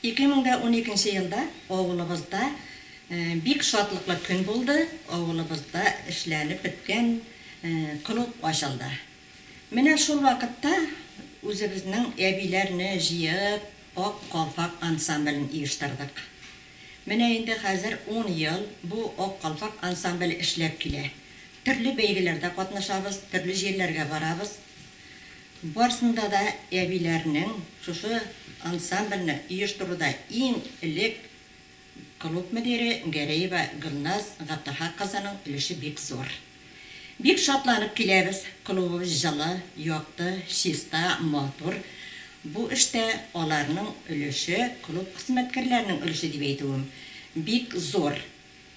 Ике мең дә уникенче елда авылыбызда бик шатлыклы көн булды, авылыбызда эшләнеп беткән клуб ачылды. Менә шул вакытта үзебезнең әбиләрне җыеп, Ак калфак ансамблен оештырдык. Менә инде хәзер ун ел бу Ак калфак ансамбле эшләп килә. Төрле бәйгеләрдә катнашабыз, төрле җирләргә барабыз. Барсында да әбиләрнең шушы ансамбльне оештыруда иң элек клуб мөдире Гәрәева Гөлназ Габдахак кызының өлеше бик зур. Бик шатланып киләбез, клубыбыз җылы, якты, чиста, матур. Бу эштә аларның өлеше, клуб хезмәткәрләренең өлеше дип әйтүем, бик зур.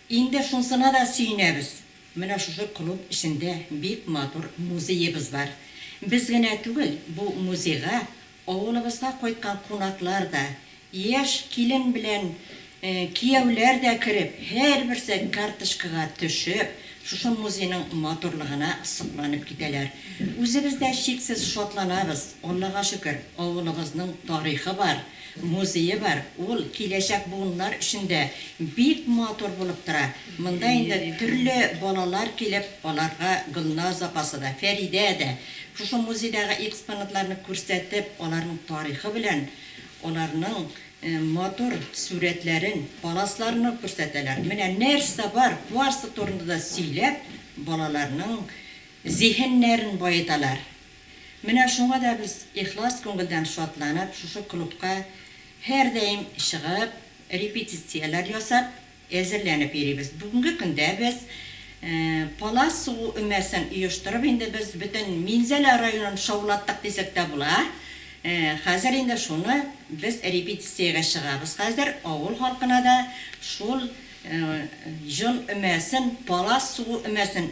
Инде шунсына да сөенәбез. Менә шушы клуб эчендә бик матур музеебыз бар. Без генә түгел, бу музейга авылыбызга кайткан кунаклар да, яшь килен белән кияүләр дә кереп, һәрберсе карточкага төшеп, шушы музейның матурлыгына сокланып китәләр. Үзебез дә чиксез шатланабыз, Аллага шөкер, авылыбызның тарихы бар. Музее бар, ул киләчәк буыннар өчен дә бик матур булып тора. Монда инде төрле балалар килеп, аларга Гөлназ апасы да, Фәридә дә шушы музейдагы экспонатларны күрсәтеп, аларның тарихы белән аларның матур сурәтләрен, паласларны күрсәтәләр. Менә нәрсә бар, барсы турында да сөйләп, балаларның зиһеннәрен баеталар. Менә шуңа да без ихлас күңелдән шатланып шушы клубка һәрдаим чыгып, репетицияләр ясап, әзерләнеп йөрибез. Бүгенге көндә без Палас сугу өмәсен оештырып инде без бөтен Минзәлә районын шаулаттык дисәк тә була. Хәзер инде шуны без репетициягә чыгабыз. Хәзер авыл халкына да шул җон өмәсен, Палас сугу өмәсен